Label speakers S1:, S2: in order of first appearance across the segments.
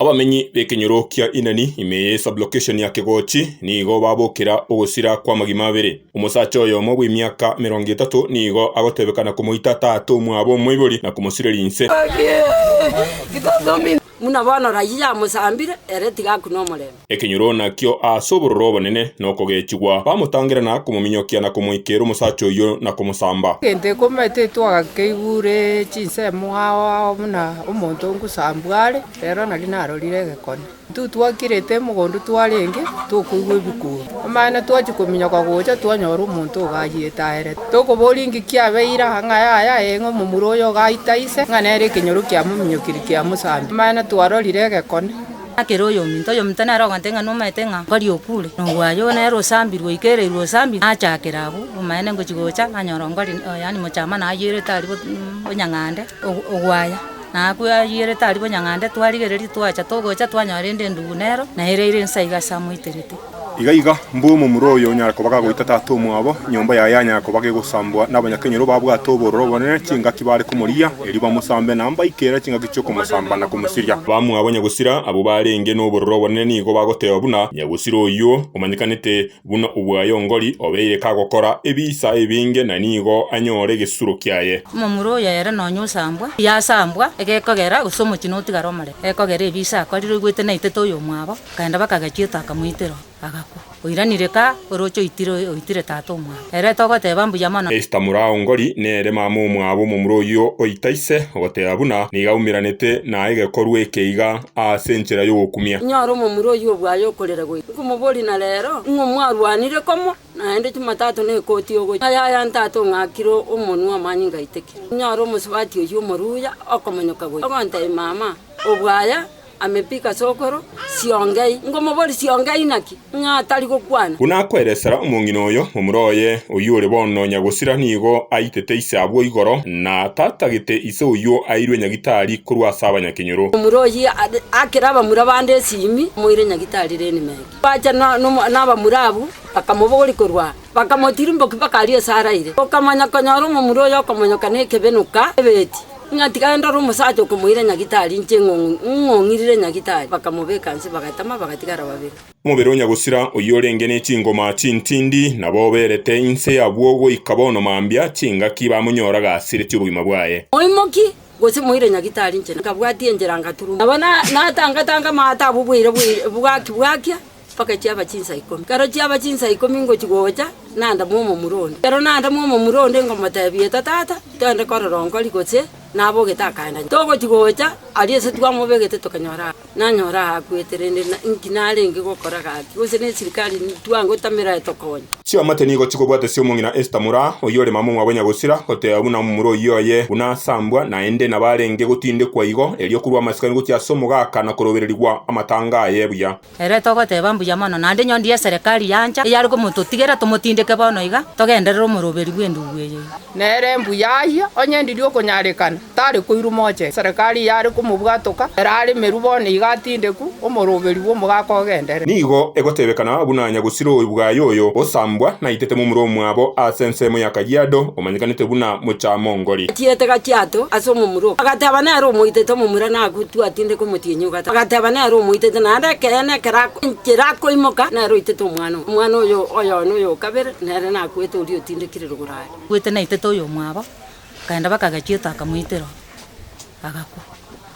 S1: Abamenyi b'ekenyoro kia Inani, ime ye sublokeshoni ya Kegochi, nigo babokera ogosira kw'amagima abere. Omosacha oyomo bw'emiaka emerongo etato nigo agotebekana komoita taata omwabo omoibori na komosira rinse.
S2: Buna bono rayia yamosambire, ere tiga akune omorembe. Ekenyoro nakio
S1: aase obororo obonene na okogechigwa, bamotangera na komominyokia na komoikera omosacha oyio na komosamba. Egento ekombaete
S3: twakeigure chinsemo ao ao buna. Omonto ngosambwa are, rero nari narorire egekone. Intwe twakirete emogondo twarenge tokoigwa ebikuuru. Amaene twachia kominyoka gocha twanyora omonto ogo ayiete aerete. Tokoboria inki kiabeire aa ng'a yaya ee ng'a omomura oyo ogaita ise ng'a nere ekenyoro kiamominyokirie kiamosambire. Amaene twarorire egekone. Nakere oyominto
S4: oyominto nere ogontee ng'a nomaete ng'a oria okure, nogwaye oo nere osambirwe oikereirwe osambirwe, nachakera abwo, omaene ngochia gocha nanyora ongori yaani mochamani ayiorete aria bonyang'ande ogwaya, nakwo ayiorete aria bonyang'ande twarigereria twacha togocha twanyora rende endubu nero na ere aire nse iga ase amoiterete. Iga iga,
S1: mbua omomura oyo onyare koba gagoita tata omwabo, enyomba yaye yanyara koba gegosambwa nabanyakenyoro babwate obororo obonene, chingaki bare komorigia, erio bamosambe na mbaike ere chingaki chi'okomosamba na komosiria. Bamwabo Nyagusira, abwo barenge nobororo obonene nigo bagoteba buna Nyagusira oyio omanyekanete buna obwayongori, obeire kagokora ebiisa ebinge na nigo anyore egesuro kiaye. Omomura oyo ere nonya
S4: osambwa, yasambwa egekogera, gose omochie notigare omorembe egekogera ebiisa akorire oigwete naitete oyomwabo. Akaenda bakagechia oto akamoitera, agakwa. Oiranire ka, oroche oitire, oitire tata omwabo. Ere togoteba mbuya mono. Esta moraongori
S1: nere mama omwabo omomura oyio oita ise, ogoteba buna nigo aumeranete na egekorwa eke iga aase enchera y'ogokumia. Inyora omomura oyio obwo
S2: aye okorera goika, nkomoboria na rero, ng'o mwarwanire komo? Naende Chumatato ne ekoti yogochia aye aya ntata ong'akire omonwa amanyinga aiteke. Inyora omosubati oyio omoruya okomonyoka goika, ogontebia mama obwo aye. Amepika sokoro, siongei. Ngomobori siongei naki? Ng'a atari gokwana? Buna akoeresera
S1: omong'ina oyo, momura oye, oyio ore bono nyagosira nigo aitete ise abwo igoro, na tatagete ise oyio airwe nyagitari korwa ase abanyakenyoro. Momura oyio aakera
S2: abamura bande esimi, amoira nyagitari Elimeleki. Bacha nabamura abwo, bakamobogoria korwa. Bakamotirimbokia bakaria ase araire. Okamanya konyora omomura oye okomonyoka nekebenuka ebeti, ng'a tiga ndore omosacha okomoira nyagitari inche eng'ong'u ng'ong'irire nyagitari, bakamobeka inse bagatama bagatigara babere. Omobere o nyagosira
S1: oyio orenge ne chingoma chintindi, nabo oberete inse y'abwo goika bono mambia, chingaki bamonyora gasireti obogima bwaye. Moimokie, gose
S2: moire nyagitari inche. Nkabwatia enchera ngaturuma. Nabo natanga tanga amato abwo bwaira bwaira bwaki bwakia. mpaka chiaba chinsa ikomi. Ekero chiaba chinsa ikomi ngochia gocha, nandamwa omomura onde. Ekero nandamwa omomura onde ngomoteebia, Eta tata, twende korere onkori, gose nabogete akaenda nyuma. Togochia gocha, aria ase twamobegete tokanyora aa. Nanyora aa akwete, rende inki narenge gokora gaki? Gose nesirikari twangotamera etokonye? Chiamate nigo
S1: chikobwata Siomong'ina Esther Mura, oyio ore mamong'wa bwa Nyagosira, goteeba buna omomura oyio oye, buna asambwa, naende nabarenge gotindekwa igo, erio korwa amasikani gochia ase omogaka na korobererigwa amatanga aye buya. Ere togoteeba
S4: mbuya mono, naende nyoondi y'eserekari yancha, eyare komototigera tomotindeke bono iga, togenderere omoroberi bw'endubu eye. Nere mbuya
S3: ayio onye ndirie okonyarekana, tare koirwa moche. Eserekari eyare komobwatoka, ere aremerwe bono iga atindeku, omoroberi bw'omogaka ogenderere. Nigo egotebekana
S1: buna nyagusiroi bwaye oyo osambwa naitete momura omwabo ase ensemo ya Kajiado, omanyekanete buna Mochaamongori. Achiete Kajiado
S2: ase omomura oo, agateba nere omoitete omomura nagutwe atindeke omotienyi o Kajiado. Agateba, Nere omoitete, naende ekeene ekero akoinchera akoimoka, nere oitete omwana oye. Omwana oye oyoa noyo o kabere, nere nakwete oria otindekire rogoro aria. Bwete naitete oyo
S4: omwabo, bakaenda bakagechia eto akamoitera oo, agakwa.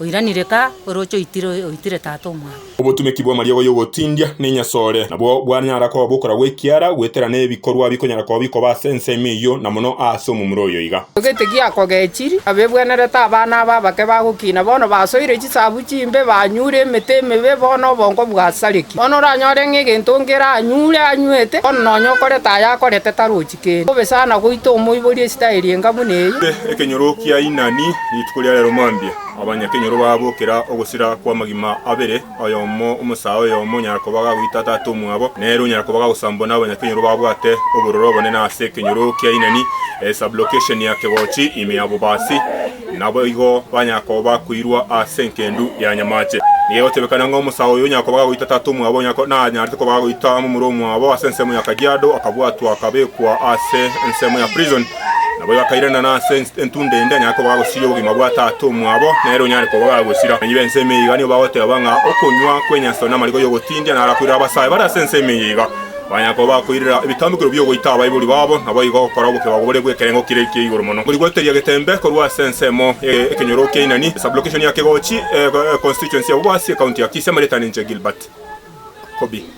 S4: Oiranire ka, oroche oitire oyo oitire tata omwabo. Obotuneki bw'amariogo
S1: y'ogotindia nenyasore nabwo bwanyara koba bokora gw'ekiara, goetera nebikorwa bikonyara koba bikoba ase ensemo eyio, na mono aase omomura oyo iga. Gete giakogechirie,
S3: abebwenerete abana aba abake bagokina, bono basoire. Chisabu chimbe banyure emete emebe bo nobongo bwa sariki. Bono oranyore ng'a egento nkere anyure anywete, bono nonya okorete aya akorete tarochi kende. Bobe sana goita omoiborie esitaeri enga buna eyio. Ekenyoro kia
S1: Inani Rituko ria rero mambia abanyakenyoro bagokera ogosira kw'amagima abere, oyomo omosae oyomo onyara koba gagoita tata omwabo, nere onyara koba gagosambwa n'abanyakenyoro babwate obororo obonene ase ekenyoro kia Inani, sublocation ya kegochi, ime ya bobasi. Naboigo banyara koba bakoirwa ase engendu ya nyamache. Nigegotiebekana ng'a omosae oyo onyara koba gagoita tata omwabo onye nanyarete koba gagoita momura omwabo ase ensemo ya Kajiado, akabwatwa akabekwa ase ensemo ya prison. Naboigo akairenana ase entunda ende anyare koba gagosiria obogima bwa tata omwabo nere onyare koba gagosira. Abanyi b'ense ime iga nigo bagoteba ng'a okonywa kw'enyaso n'amariko y'ogotindia naro akoirere abasae bare ase ense ime iga. Manya koba akoirera ebitambukero bi'ogoita abaibori babo, naboigo gokora obokebago bore bw'ekerengo kire ekiya igoro mono. Korigoteria getembe korwa ase ensemo ye ekenyoro kia Inani, Sublocation ya Kegochi, Constituency ya Bobasi, County ya Kisia, Marieta Ninche, Gilbert, Kobi.